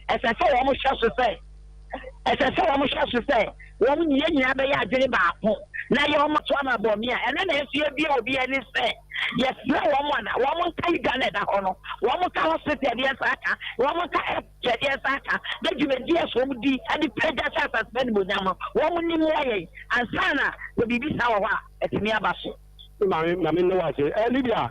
ɛsɛ sɛ wɔhyɛ so sɛ ɛsɛ sɛ wɔhyɛ so sɛ wɔn ne yɛn nyinaa bɛyɛ adwene baako na yɛ wɔn to ama bɔmi a ɛno na ɛsua bi a obi ani sɛ yɛsrɛ wɔn a na wɔn nka yi gya na ɛda hɔ no wɔn nka hospital ɛdeɛ nsa aka wɔn nka ɛpɛ ɛdeɛ nsa aka na dwumadi ɛso wɔn di ɛde pɛ gya sɛ asase ne bonyam no wɔn ni mu ayɛ ansa na biribi sa wɔ hɔ a ɛtumi aba so. maame maame ne wa se ɛ eh, libya.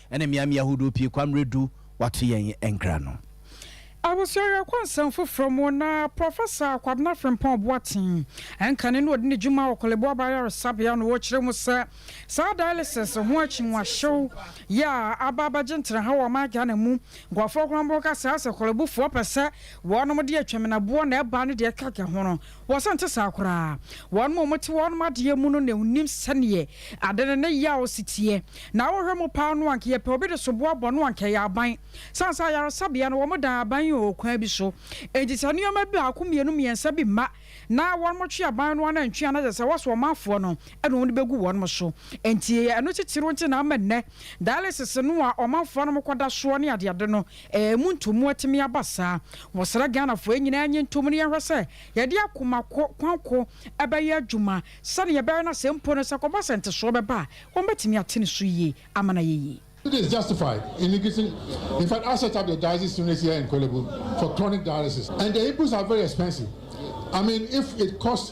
Ɛne mmeaemmeae ahodoɔ pii kwa mmerɛ du wɔato yɛn nkra no. Abusua Awerɛhoɔ Nsɛm Foforɔ mu na Prɔfɛsa Kwabena Frimpong Boateng, ɛnkane na ɔdi ne dwuma wɔ Korle Bu Aba Ayaresabea no, ɔrekyerɛ mu sɛ saa dialysis ho akyinnwahyew yi a aba abɛgye ntraha wɔ ɔman Ghana mu nkurɔfoɔ korɔnbɔn ka saa sɛ Korle Bufoɔ pɛ sɛ wɔnom de atwamenaboɔ na ɛbaa ne deɛ ɛkeka ho no Wɔsan te saa koraa. Wɔnom a wɔte wɔnom adeɛ mu no na wɔnim sɛdeɛ ade no ne yaw si teɛ. Na wohwɛ mu paa no anka yɛpɛ obi de soboɔ bɔ no anka ɛyɛ aban. Sane sɛ ayaresabea no wɔdan aban yi wɔ kwan bi so. Enti sɛ nneɛma baako mmienu mmiɛnsa bi mma na wɔnom twe aban no ara antwe a na kyerɛ sɛ wɔsɔ ɔmanfoɔ no na wɔde bɛgu wɔnom so. Enti ɛyɛ ɛno titiriw nti na ama nnɛ dialysis no a ɔmanfoɔ nom kɔda soɔ ne adeade no Ɛɛ mu ntomu atumi aba saa. Wɔsrɛ Ghanafoɔ yɛn nyinaa nye ntom na yɛnhwɛ sɛ yɛde akoma ko, kwan ko bɛyɛ adwuma sɛdeɛ ɛbɛyɛ na sɛ mpo no sɛ kɔba sɛ ntesoɔ bɛba a, wɔbɛtumi ate ne so yie ama no ayɛ yie. It is justified in increasing in fact I set up the dialysis unit here in Korle Bu for chronic dialysis and the inputs are very expensive I mean if it costs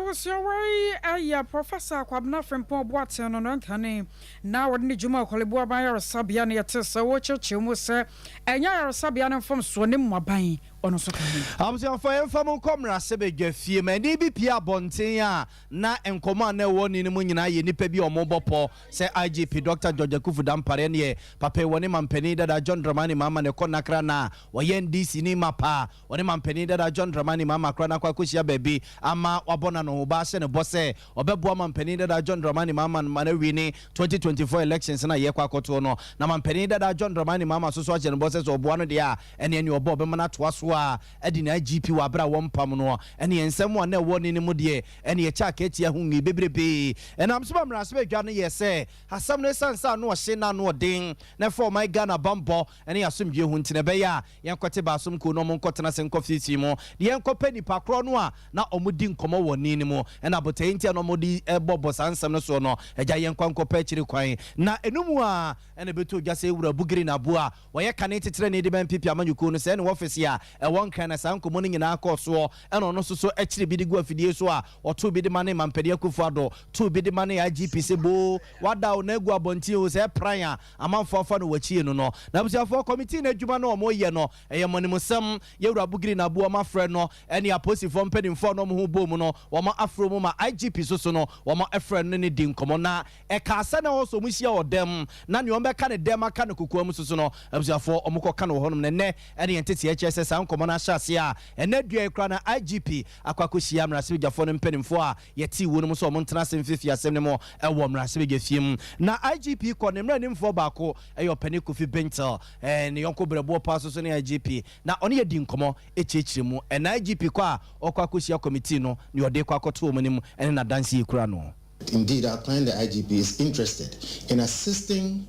Ahosoawa yi yɛ Prɔfɛsa Kwabena Frimpong Boateng no nantane na wɔde ne dwuma wɔ Korle Bu Aban Ayaresabea na yɛtee sɛ wɔrekyerɛkyerɛ mu sɛ ɛnyɛ ayaresabea no mfomsoɔ ne mmoaban ɔno nso ka ho. Abusuafoɔ yɛmfa mo nkɔ mmarahyɛ badwa fie. Manin bi pue abɔnten a na nkɔmmɔ a na ɛwɔ ne no mu nyinaa yɛ nnipa bi a wɔrebɔ pɔ sɛ IGP Dɔkta George Akuffo Dampare ne yɛ papa yi wɔ ne mampanin dada John Dramani Mahama na ɛkɔ Nakra na wɔyɛ NDCni mapa. Wɔne manpanin dada John Dramani Mahama koraa no akɔ akɔhyia baabi ama wabɔ no anohoba ahyɛ no bɔ sɛ ɔbɛboa manpanin dada John Dramani Mahama ma no awie ne twenty twenty four elections no a yɛrekɔ akɔtoɔ no. Na manpanin dada John Dramani Mahama nso so ahyɛ no bɔ sɛ sɛ ɔboa no deɛ a ɛneɛ nea ɔbɔ a ɔbɛma no atoa so ara adi ne IGP wɔ aberɛ a wɔmpam noɔ. Ɛneɛ nsɛm a na ɛwɔ ne no mu deɛ ɛneɛ ɛkyɛ akatia ho nwi bebrebee. Ɛnam so ma mmaransɛbadwa no yɛɛ sɛ asɛm no ɛsiane sɛ ano ɔhye na ano ɔden na ɛfa ɔman Ghana bammɔ ne asomdwoe ho nti na ɛbɛyɛ a yɛnkɔte baasom kuw na wɔnkɔtena ase nkɔ fiefie mu na yɛnkɔpɛ nnipa korɔ no a na wɔdi nkɔmmɔ wɔ nne no mu na botae nti a na wɔde bɔ bɔ saa nsɛm no soɔ no, agya yɛn nkwa nkɔpɛ akyiri kwan. Na ɛno mu ara na ɛbɛtɔ dwa sɛ Wura Bugiri Naabu a ɔyɛ kane titenani de ma NPP amanyɔkuo no sɛe ne wɔfese a ɛwɔ Nkran na saa nkɔmmɔ no nyinaa kɔɔ soɔ na ɔno nso so kyere bi de gu afidie so a ɔtoo bi de ma ne Mampanin Akufo Addo too bi de ma ne IGP sɛ boo wada o na agu abɔnten o sɛ ɛpran a Amanfoɔ afa no w'akyi eno no n'abusuafoɔ kɔmitii no adwuma no a wɔyɛ no ɛyɛ mmɔnimsɛm Yawura Bugiri na aboɔ mafrɛ no ɛne apolisifoɔ mpaninfoɔ a na wɔn ho bom no wɔn afrɛ mu ma IGP soso no wɔn ɛfrɛ no ne no di nkɔmɔ na ɛkaa sɛ na ɛhɔso wɔn hyia wɔ dɛm na nea wɔn bɛka ne dɛm aka no kokoa mu soso no abusuafoɔ wɔn kɔ ka no wɔ hɔnom na ɛnɛ ɛne yɛn nteteɛ kyerɛ sɛ saa nkɔmɔ no ahyɛ aseɛ a ɛnɛ dua yi koraa na IGP akɔ akɔ hyia mmarahyɛbadwafoɔ no mpaninfoɔ a Yɛtee woi no mu sɛ wɔn ntena ase mfeefee asɛm no mu wɔ mmarahyɛbadwafie mu. Na IGP kɔ ne mmaranimfoɔ baako yɛ ɔpanin Kofi Bintel, ne yɔnko berɛboɔ paa nso so ne IGP na ɔne yɛ dii nkɔmmɔ kyerɛkyerɛ mu. Na IGP kɔ a ɔkɔ akɔhyia kɔmitii no, nea ɔde rekɔ akɔto wɔn anim ne n'adanseɛ kura no. Indeed, our client the IGP is interested in assisting.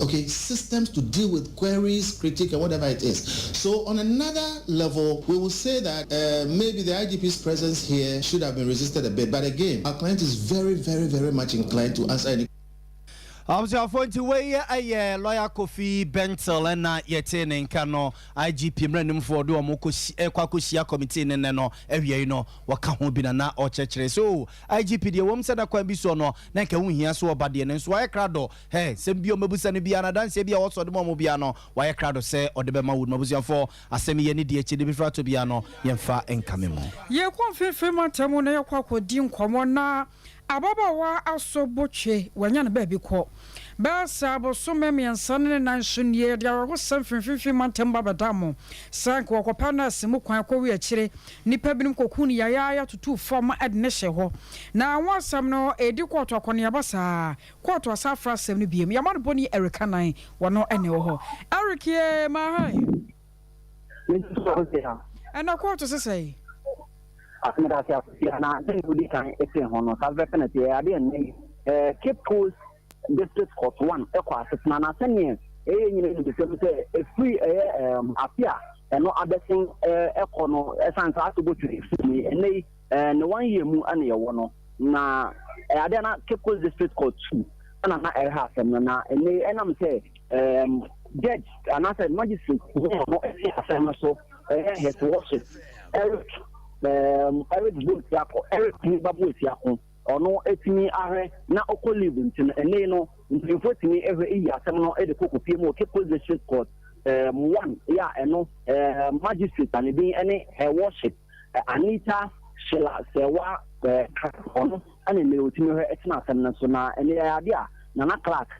ok systems to deal with queries, critique and whatever it is so on another level we will say that maybe the IGP's presence here should have been resisted a bit but again our client is very very very much inclined to answer any Abusuafoɔ nti wei yɛ lawyer Kofi Bentil ɛna yɛtee ne nka no IGP mmaranimfoɔ ɔde wɔn kɔ akɔhyia committee ne nnɛ no awiei no wɔka ho bi na na ɔkyerɛkyerɛ so IGP deɛ ɛwom sɛ na kwan bi soɔ no na nka ɛho hia sɛ ɔba deɛ nanso wayɛ krado hɛɛ nsɛm biaa ɔmmɛbusa no biaa na adanseɛ biaa ɔwɔ sɛ ɔde ma wɔn biaa no wayɛ krado sɛ ɔde bɛma wo no m'abusuafoɔ asɛm yɛ ne deɛ akyide bi fratɔ biaa no yɛmfa nkame mu. Yɛkɔ mfimfini mantam mu na yɛkɔ akɔdi nkɔmmɔ na ababaawa Aso Botwe wanya no baabi kɔ. Bɛyɛ sɛ abosome mmiɛnsa ne ne nan so nie yɛde awerɛhosɛm firi mfimfini mantam ba bɛdaa mo sɛ anka wɔkɔpɛ nɛɛse mu kwan kɔwe akyire Nnipa binom kɔkuu no yayaaya tutuu fam ma ɛde no hyɛɛ hɔ. Na ho asɛm no redi kɔɔto akɔneaba saa a, kɔɔto asan afra asɛm no bio. Yɛama no bɔ ni Eric Anan, wɔno na ɛwɔ hɔ. Eric ye, Mahae? Mete so, wo se a? Ɛnna kɔɔto se sɛe? Ase meda ase, Akosua, na sɛnea wodi kan tee ho no, saa pɛpɛpɛ na ɛteɛ. Ɛyɛ ade a ɛnnɛ yi, eh, Cape Coast. District Court One kɔ asetena, na sɛnea ɛyɛ nyinaa anigyesɛm sɛ ɛfiri ɛyɛ um, afe a ɛno abɛsen uh, kɔ no, ɛsan saa to botire firi ni. Ɛnnɛ yi, uh, ne one year mu na yɛwɔ no, na uh, adeɛ na Cape Coast District Court Two ɛna na ɛrehɛ asɛm no, na ɛnnɛ yi ɛnam sɛ um, judge anaasɛ magistrate no ɛte asɛm no so ɛyɛ hɛtewɔhye Eric um, Eric Boesiako Eric Niba Boesiako Ɔno tumi ahwɛ na ɔkɔ leave nti no ɛnɛ yi no mpanyinfoɔ tumi hwɛ yi asɛm no de kɔ Kopie mu Oke Post District Court um one yi a ɛno um magistrate a ne din ne Her Worship Anita Sheila Sɛwa um Clark ɔno ɛna ɛnɛ ɔtumi hwɛ ɛtena asɛm no so na ɛnɛ yɛ adeɛ a Nana Clark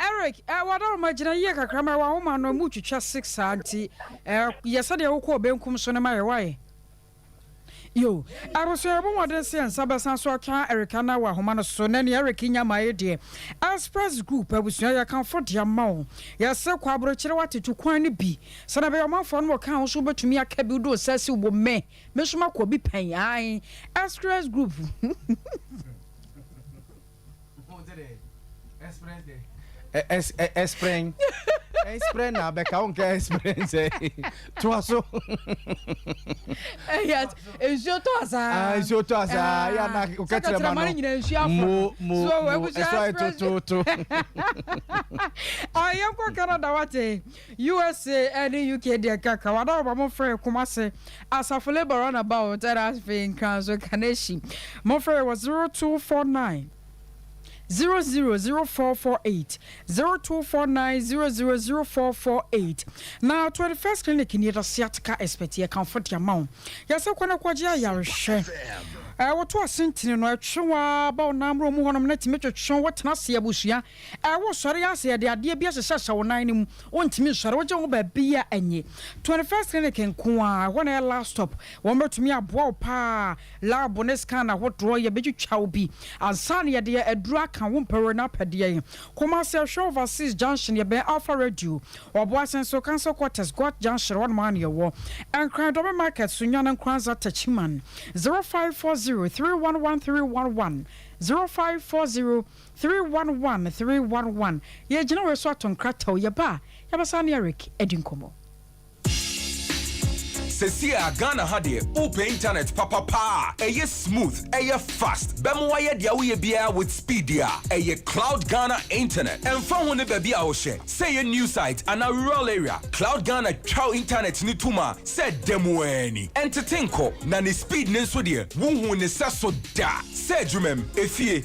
Eric, eh, wadaroma gyina yie kakra ma wahoma no mu twitwa six saa nti eh, yɛ sɛdeɛ wokɔɔ benkum so no ma yɛ wae yo abusua yɛbɔ mmɔden sɛ nsa bɛsan so atwa erika na wahoma no so na nea eric nya ma yɛ deɛ express group abusua yɛkamfo de ama wo yɛse kɔ aburokyerɛ watetu kwan no bi sɛdeɛ bɛyɛ ɔmanfoɔ no wɔka wo so wobɛtumi aka bi wode wo nsa si wo mmɛ Me nso makɔ bi pɛn ae express group Ɛsprɛn ɛsprɛn na abɛka wo nka ɛsprɛn sɛ toa so ɛyɛ nsuo tɔ asaa nsuo tɔ asaa yɛ na woka kyerɛ ma no nyina nsuo afɔ mo mo mo ɛsɔ ɛtototo ɔyɛ nkɔ Canada wate USA ne UK deɛ ɛka ka wada wɔba mo frɛ Kumasi asafo labour run about ɛna afei nkranso kanehyi mo frɛ wɔ zero two four nine zero zero zero four four eight zero two four nine zero zero zero four four eight na twenty first clinic ni ɛda siatika expert yɛ kanfo deɛ ma wo yɛsɛ kɔ na kɔgye ayarehwɛ ɛwoto asentene no ɛtwe waa ba ɔnamoro mu hɔnom na tumi twetwe wo tena se abusua Ɛ wo sɔre ara sɛ yɛde adeɛ bi ahyehyɛhyɛ wo nan no mu wontumi nsɔre wogye wo ho baabiara ɛnye twenty first clinic nko ara ɛhɔ na ɛyɛ last stop wɔn bɛtumi aboa wo pa ara lab ne scan ahodoɔ yɛbɛtwitwa wo bi ansa na yɛde aduro aka wo mpɛ wɔ na apɛ deɛ yɛn Kumasi ɛhwɛ overseas junction yɛbɛn Alpha radio Ɔboasen so council quarters Goat junction hɔ nom ara na yɛwɔ Nkran Dome market so Nyana Nkranza Techiman zero five four zero three one one three one one zero five four zero Three one one three one one yɛ gyina wɔ so ato nkrataw yɛ ba a yɛbɛ saa ne Eric adi nkɔmɔ. Sesie a Ghana ha deɛ wopɛ internet papa paa a ɛyɛ smooth, ɛyɛ fast, bɛma wayɛ deɛ woyɛ biara with speed deɛ a, ɛyɛ Cloud Ghana internet. Ɛmfa ho ne baabi a wohyɛ, sɛ ɛyɛ new site anaa rural area, Cloud Ghana twa wo internet no to ma sɛ da mu ara ni. Ɛntete nkɔ, na ne speed no nso deɛ wonhu ne sɛso da. Sɛ adwumam, efie,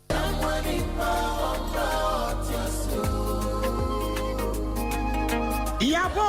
Yɛabɔ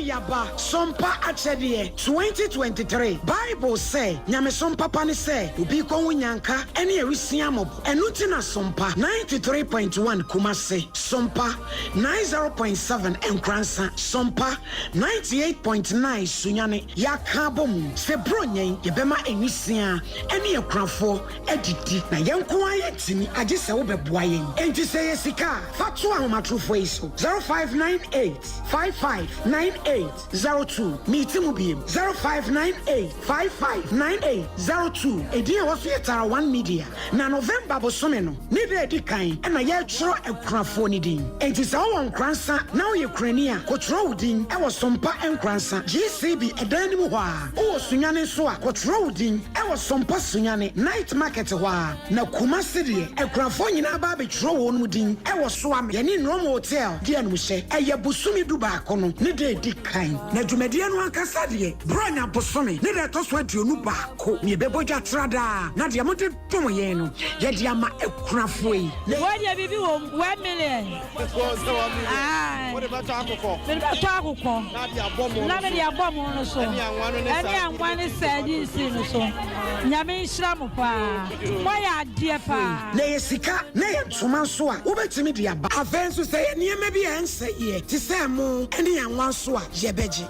Yɛaba Som Pa Akyɛdeɛ twenty twenty three Bible sɛ nyamesom papa ne sɛ obi rekɔ ho nyanka ne awisiaa mmɔbɔ. Ɛno nti na Som Pa ninety three point one Kumasi, Som Pa ninety zero point seven Nkoransa, Som Pa ninety eight point nine Sunyani, yɛaka abɔ mu sɛ Buronya yi yɛbɛma awisiaa ne akunafoɔ adidi na yɛn nko ara yɛntumi agye sɛ wobɛboa yɛn. Enti sɛ ɛyɛ sika a, fa to ahomatorofoɔ yi so, 0598 559802. Meti mu biem, 0598 559802. Edin a ɛwɔ so yɛ Tara One Media, na November bosome no ne da a ɛdi kan na yɛretwerɛ akunafoɔ no din. Enti sɛ wowɔ Nkoransa na woyɛ kunani a, kɔtwerɛ wo din wɔ Sompa Nkoransa GCB dan no mu hɔ ara. Wowɔ Sunyani nso a, kɔtwerɛ wo din wɔ Sompa Sunyani Night Market hɔ ara. Na Kumasi deɛ, akunafoɔ nyinaa ba abɛtwerɛ wɔn mu din wɔ Soame yɛne Nnom Hotel di anumuhyɛ. Ɛyɛ bosome du baako no ne da a ɛdi kan. Na dwumadie no ankasa deɛ, Borɔnya bosome ne da a ɛtɔ so aduonu baako na yɛbɛbɔ dwa tra daa. Na deɛ mode. Tɔn yɛn no yɛ de ama akunafoɔ yi. Wei deɛ biribi wɔ mu one million. Ɛkɔ sɛ one million. Ayi. Wode bɛtɔ akokɔ. Mede bɛtɔ akokɔ. Na de abɔ mo no so. Na mede abɔ mo no so. Ɛne anwa no ne saa. Ɛne anwa ne saa di nsi no so. Nyame nhyira mo paa. Moayɛ adeɛ paa. Na ɛyɛ sika na ɛyɛ ntoma nso a wobɛtumi de aba. Afei nso sɛ ɛyɛ nneɛma bi a ɛnsɛeɛ te sɛ ɛmo ne anwa nso a yɛbɛgye.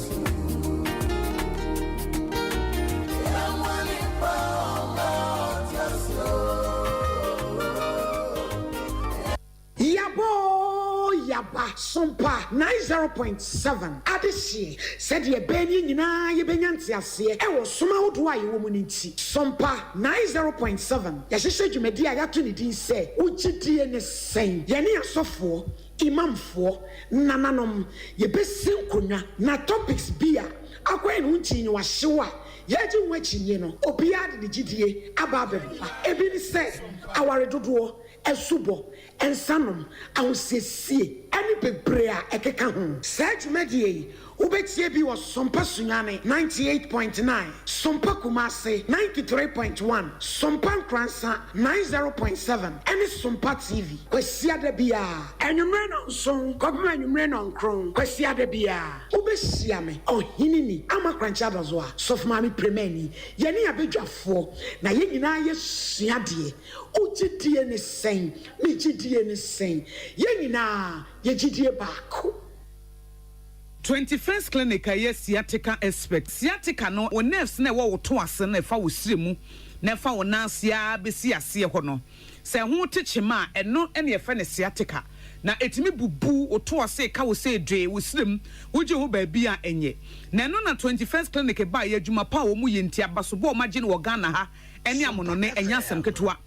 Yaba oo yaba, som pa, nine zero point seven, Adehyeɛ, sɛdeɛ ɛbɛyɛ ne yɛn nyinaa yɛbɛnya nteaseɛ wɔ som ahodoɔ a yɛwɔ mu no nti, som pa, nine zero point seven, yɛahyehyɛ dwumadie a yɛato ne din sɛ, Wo gyedie ne sɛn? Yɛne asɔfoɔ, Imamfoɔ nananom, yɛbɛsi nkonnwa na topics bi a akwan no nti nyɛ wɔahyew a yɛregye ho akyinnye no, obiara de ne gyidie aba abɛfa. Ebi ne sɛ, aware dodoɔ, asubɔ, nsanom, ahosiesie, ne bebree a ɛkeka ho. Saa dwumadie yi, Wobɛtie bi wɔ Sompa Sunyani, ninety eight point nine, Sompa Kumasi, ninety three point one, Sompa Nkoransa, ninety zero point seven, ɛne Sompa TV, Kwasiada biara, anwummerɛ nnɔnson kɔpem anwummerɛ nnɔnkron, Kwasiada biara. Wobɛhyia me, Ɔheneni Ama Korankye Adozoa, Sɔfomaame Piremanyi. Yɛne abadwafoɔ, na yɛn nyinaa yɛsua adeɛ. Wo gyedie ne sɛn? Me gyedie ne sɛn? Yɛn nyinaa, yɛn gyedie baako. Twenty First Clinic a ɛyɛ sciatica expert. Sciatica no, wo nerves no a ɛwɔ wo to ase no, ɛfa wo srɛ mu na ɛfa wo nan ase ara bɛsi aseɛ hɔ no. Sɛ ɛho te kyema a, ɛno na yɛfrɛ no sciatica. Na ɛtumi bubu wo to ase, ɛka wo sei dwee, wo srɛ mu, wogye hɔ baabi a ɛnyɛ. Na ɛno na Twenty First Clinic baeɛ, adwuma pa a wɔyɛ nti, abasobɔ a wɔagye no wɔ Ghana ha ne amonone, ɛnyɛ asɛm ketewa.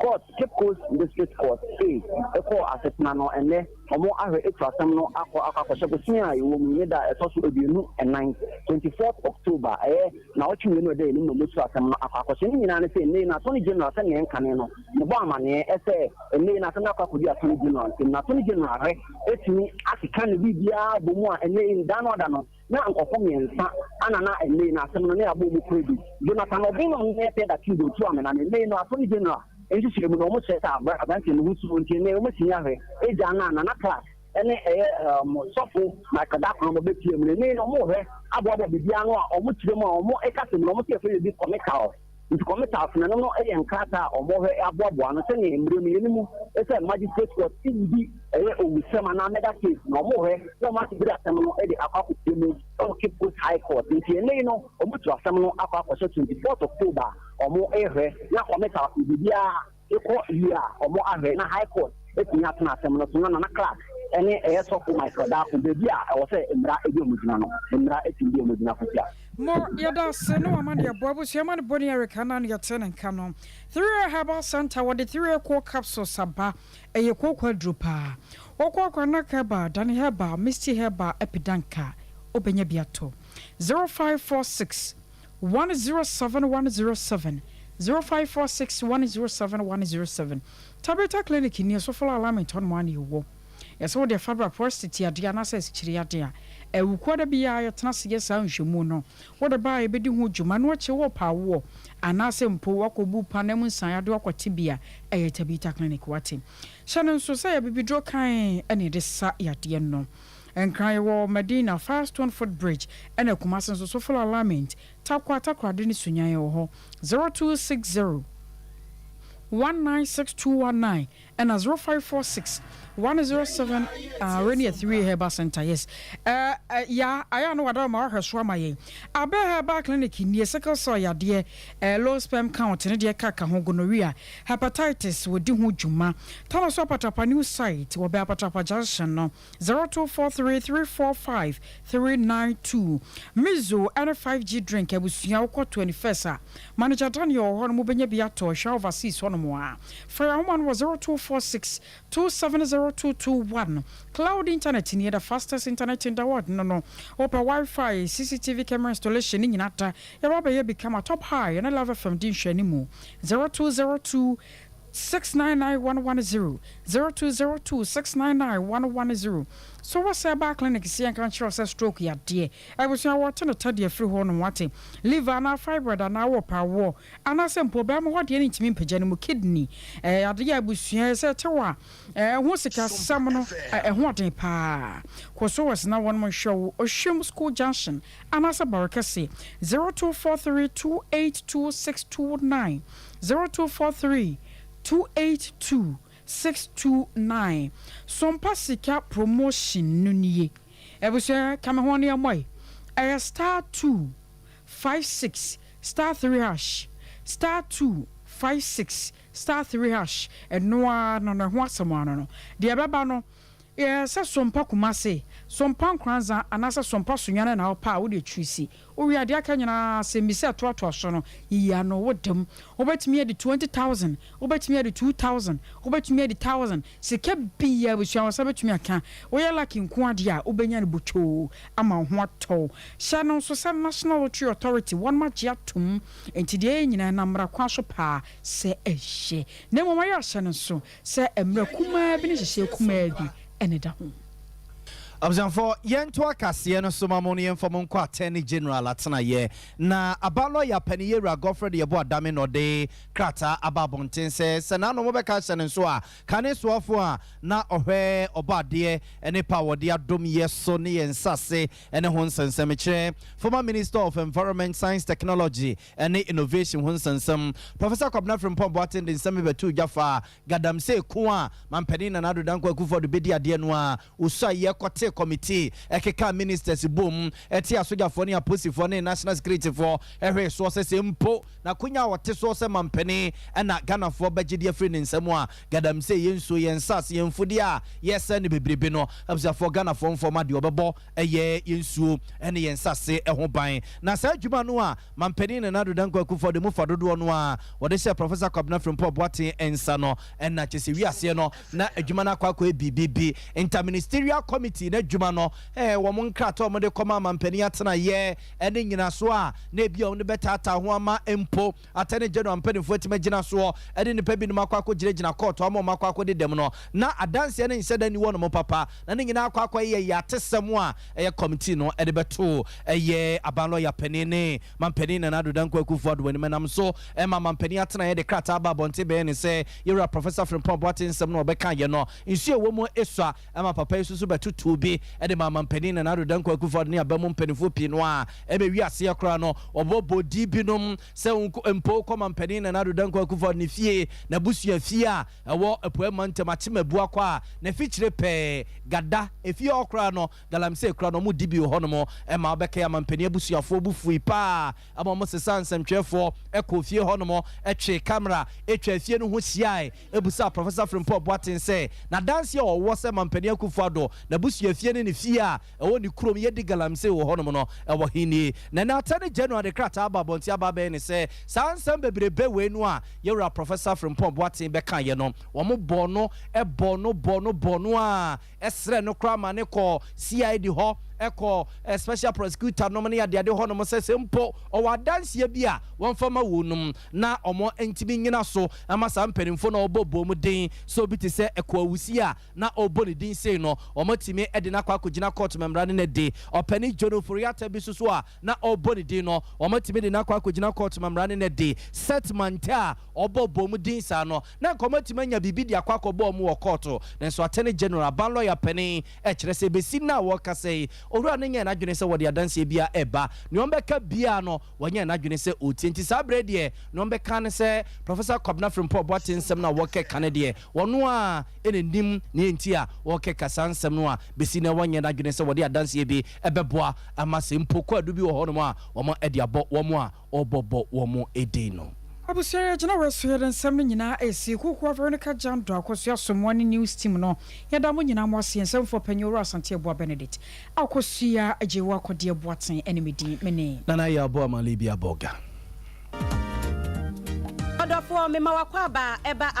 Court, Cape Coast District Court, se ekɔɔ asetena no ɛnnɛ wɔn ahwɛ atu asɛm no akɔ akɔ akɔhyɛ bosome a yɛwɔ mu yi ne da a ɛtɔ so aduonu ɛnan, twenty fourth October, ɛyɛ naawɔtwe mmienu a ɛda yɛn anim na wɔatu asɛm no akɔ akɔhyɛ. Ne nyinaa ne sɛ ɛnnɛ yi na Attorney General sɛnea yɛn kane no ne bɔɔ amaneɛ sɛ ɛnnɛ yi na asɛm no akɔ akɔdi Attorney General nsam na Attorney General ahwɛ atumi akeka ne biribiara abɔ mu a ɛnnɛ yi ne da no ada no. Na nkorɔfo miɛnsa ana na mbei no asem no ne abɔ mu kura bi, Jonathan Obinom ne Epieda Kindo tuu amena ne mbei no Asɔre General nhyehyɛɛ mu na wɔn kyerɛ sɛ abrɛ abranteɛ no ho su nti nnɛ wɔn asi yahwɛ agya no a Nana Clark ne ɛyɛ Sɔfo Michael Dakoroma bɛ tua mu na mbei no wɔn rehwɛ aboaboa biribi ano a wɔn kyerɛ mu a wɔn ɛka sɛm no wɔn se yɛfrɛ biribi comical Nti kɔmitas no, ɛno no yɛ nkrataa a wɔhwɛ aboaboa ano sɛnea mmere no yɛ no mu sɛ magistrate court sii bi ɛyɛ owusɛm anaa murder case na wɔhwɛ na wɔn ate bere asɛm no de akɔ akɔpie mu wɔ Cape Coast High Court. Nti ɛnnɛ yi no wɔatu asɛm no akɔ akɔhyɛ 24th October a wɔhwɛ na kɔmitas no biribiara Ekɔ wie a ɔmɔ ahwɛ na high court atumi atena asɛm no so na Nana Clark ɛne ɛyɛ sɔfo Michael Darko baabi a ɛwɔ sɛ mmra ɛdi ɔmɔ gyina no mmra atumi di ɔmɔ gyina kosua. Mo yɛda ase ne wama neɛ boa abusua ma no boni Eric Annan yɛte ne nka no Three Way Herbal Center wɔde Three Way Cold Capsules aba ɛyɛ kooko aduro paa Wokɔ Akwanac Herbal, Dani Herbal, Misty Herbal, Epidanka wobɛnya bi ato Zero five four six. one zero seven one zero seven zero five four six one zero seven one zero seven Tabitha Clinic ni Osofo la Alignment hɔ nom ara na yɛwɔ. Ɛsɛ wode ɛfa bra prostate adeɛ anaasɛ asikyire adeɛ a ɛwo kuo a da bi ara yɛtena ase yɛ saa nhwɛmu no wode ba a yɛbɛdi ho dwuma ɛno akyi worepɛ awoɔ anaasɛ mpo woakɔ bu pa anaa mu nsaneyadeɛ woakɔ tebea a ɛyɛ Tabitha Clinic wate. Hyɛ no nso sɛ yɛ abibiduro kann na yɛde sa yadeɛ no. Nkran wɔ Medina, Firestone Footbridge, ɛna Kumasi nso Sofala Alignment, Tarkwa, Takoradi ne Sunyani ɛwɔ hɔ. Zero two six zero one nine six two one nine ɛna zero five four six one zero seven ah Renia Three Herbal Centre yes ɛɛ ɛ ya ayɛ ano wada ma wahwɛ so ama yɛn Abɛ Herbal Clinic nie sickle cell yadeɛ ɛɛ low sperm count ne deɛ kaka ho gonorrhea hepatitis wɔdi ho dwuma Tano so Apatrapa new site wɔ bɛn Apatrapa junction no. Zero two four three three four five three nine two Mizo ɛne five G drink abusua wokɔ twenty first a manager Daniel wɔ hɔ nom wobɛnya bi atɔ hwɛ overseas hɔ nom a fa yɛ ahoma no wɔ zero two four six two seven zero two two one Cloud internet nie the fastest internet in the world no no wopɛ Wi-Fi CCTV camera installation ne nyina da yɛba bɛyɛ bi kama top high ɛne Love FM di nhwɛanimu zero two zero two Six nine nine one one zero zero two zero two six nine nine one one zero So wɔ sɛ baa clinic si yɛnka nkyerɛ wo sɛ stroke yadeɛ abusua wɔte no tɛdeɛ firi hɔ nom wate liver anaa fibroid anaa wɔ pɛ awoɔ anaa sɛ mpo bɛɛmo hɔ adeɛ no ntumi mpagya no mu kidney ɛyɛ adeɛ abusua sɛ ɛte wɔ a ɛho sika sɛm no ɛho ɔden paa kɔ so wɔ sena wɔnom nhwɛ wo ohwem school junction anaa sɛ bɔrekɛse zero two four three two eight two six two nine. zero two four three two eight two six two nine Sompa Sika promotion no nie abusua ka me ho ne ɛmɔe ɛyɛ star two five six star three hash star two five six star three hash ɛno ara no no ɛho asɛm ara no no deɛ ɛbɛba no yɛ sɛ Sompa Kumase Sompa Nkoranza anaasɛ Sompa Sunyani na wopɛ a wode akyiri si Wowie a, deɛ aka nyinaa ara asɛmmisa ɛtoatoa so no, yiyi ano. Wo dam. Wobɛtumi adi twenty thousand, wobɛtumi adi two thousand, wobɛtumi adi thousand. Sika biara abusua wo nsa bɛtumi aka. Woyɛ lucky nko ara deɛ a, wobɛnya no botwoo ama wo ho atɔ wo. Hyɛ no nso sɛ National Lottery Authority, wɔnom agye atom. Enti deɛ ɛyɛ nyinaa, ɛnam mmara kwan so paa sɛ ɛyɛ. Na mmom ayɛ ahyɛ no nso. Sɛ mmerɛ kumaa bi ne nhyehyeɛ kumaa bi ne da ho. Abusuafoɔ, yɛnto akaseɛ no so ma mo na yɛmfa mo nkɔ Attorney General atenaeɛ. Na Aba Lɔya Panin Yɛwura Godfred Yɛbo Adame na ɔde krataa aba abɔnten sɛ sɛ n'ano mobɛka ahyɛ no nso a, kane soafoɔ a na ɔhwɛ ɔbɔ adeɛ ne pa a wɔde adom yɛ so ne yɛn nsase ne ho nsɛnsɛmekyerɛ, Former Minister of Environment, Science Technology ɛne innovation ho nsɛnsɛm. Professor Kwabena Frimpong Boateng de nsɛm bi bɛtoo dwa faa Gadamsey ko a Manpanin Nana Addo Dankwa Akufo-Addo bedi adeɛ no a osuae yɛ kɔtee kɔmitee ɛkekaa ministers boom tee asogyafoɔ ne aposifoɔ ne national securityfoɔ hwee soɔ sɛ sɛ mpo n'akonya a ɔte soɔ sɛ Manpanin na Ghanafoɔ bɛgye de afiri ne nsam a Gadamsey, yɛn nsuo, yɛn nsase, yɛn mfudeɛ a yɛsɛe no bebrebe no abusuafoɔ Ghanafoɔ mfɔma deɛ ɔbɛbɔ Ɛyɛ yɛn nsuo ne yɛn nsase ho ban. Na saa adwuma no a Mampanin Nana Addo Dankwa Akuffo de mu fa dodoɔ no ara wɔde hyɛɛ Professor Kwabena Frimpong Boateng nsa no, ɛna kyerɛ sɛ wiaseɛ no na adwuma no akɔ akɔyɛ biribi bi. Inter-Ministerial Committee n'adwuma no, wɔn nkrataa a wɔde kɔmaa Mampanin Atenaeɛ ne nnyinasoɔ a na ebia wɔde bɛtaataa ho ama mpo, Attorney General mpanyimfo atumi agyina soɔ de nnipa binom akɔ akɔgyinagyina kɔɔto ama wɔn akɔ akɔdi dɛm no, na adanseɛ no nhyɛ da nni wɔnom papa, na ne nyinaa akɔ akɔyɛ yɛ atesɛm a ɛyɛ committee no de bɛto ɛyɛ aban lɔya panin ne manpanin Nana Addo Dankwa Akuffo Addo anim. Ɛnam so ma manpanin atenaeɛ de krataa baa abɔnten bɛyɛɛ ne sɛ Yɛwura Professor Frimpong Boateng nsɛm no a ɔbɛkaeɛ no, nsuo a ɛwɔ mu sua. Ɛma papa yi susu bɛtotoo bi de maa Mampanin Nana Addo Dankwa Akuffo Addo ne aban mu mpaninfoɔ pii no a ɛbɛwie aseɛ koraa no wɔbɔ bɔdi binom sɛ nko mpo kɔ Mampanin Nana Addo Dankwa Akuffo Addo ne fie, n'abusua fie a ɛwɔ Apueɛ Mantam Akyemabua kɔ a n'afikyire pɛɛ Gada efie hɔ koraa no Galamsey koraa no wɔn di bi wɔ hɔnom ɛma wɔbɛkae a Mampanin abusuafoɔ bo fui paa ɛma wɔn sesaa nsɛmtwerɛfoɔ kɔɔ fie hɔnom twee camera twaa fie no ho hyiae. bisaa Professor Frimpong Boateng sɛ n'adanse a ɔwɔ sɛ Mampanin Akufo-Addo, n'abusuafie ne ne fie a ɛwɔ ne kurom Yedi Galamsey wɔ hɔnom no wɔ he nie. Na ɛnnɛ Attorney General de krataa aba abɔnten aba abɛn ne sɛ saa nsɛm bebrebe wei no a yɛn wura Professor Frimpong Boateng bɛkaeɛ no wɔbɔɔ no bɔɔ no bɔɔ no bɔɔ no ara srɛɛ no koraa ma no kɔɔ CID hɔ, ɛkɔɔ Special Prosecutor nom ne adeade hɔ nom sɛ sɛ mpo ɔwɔ adanseɛ bi a wɔmfa mma won nom na ɔmɔ ntumi nyina so mma saa mpaninfoɔ no a ɔbɔ bɔ mu den sɛ obi te sɛ Ɛkoa Wusie a na ɔbɔ ne din sei no ɔmɔ tumi de no akɔ akɔgyina court ma mmara no na de Ɔpɛni John Ofori-Atta bi so so a na ɔbɔ ne din no ɔmɔ tumi de no akɔ akɔgyina court ma mmara no na de Seth Mantaa a ɔbɔ bɔ mu din saa no Na nka wɔatumi anya biribi de akɔ akɔbɔ wɔn wɔ kɔɔto, nanso Attorney General, Aban Lɔya Panin, kyerɛ sɛ ɛbɛsi nna a wɔrekasa yi, Owura no nyɛɛ n'adwene sɛ wɔde adanseɛ biara reba. Nea wɔbɛka biara no, wanyɛ n'adwene sɛ ɔretie. Nti saa berɛ yi deɛ, nea wɔbɛka ara ne sɛ Professor Kwabena Frimpong Boateng nsɛm no a wɔrekeka no deɛ, ɔno ara na ɔnim nea enti a wɔrekeka saa nsɛm no a bɛsi nnɛ wanyɛ n'adwene sɛ wɔde adanseɛ bi bɛboa ama sɛ mpo kwaadu bi wɔ hɔnom a wɔde abɔ wɔn a wɔbɔbɔ wɔn edin no. Abusua yɛ gyina wɔ so yɛ dɛ nsɛm no nyinaa ɛsi Kokoa Veronica Gyan Dɔ Akosua Asomoa ne news team no yɛ da mo nyinaa mo ase yɛn nsɛmfoɔ panyin Owura Asante Aboa Benedict Akosua agye wo akɔdeɛ Boatsen ɛne me din me ne. Nana Ayi Aboa Malibia Boga. Ɔdɔfoɔ mema w'akwaaba ɛba a.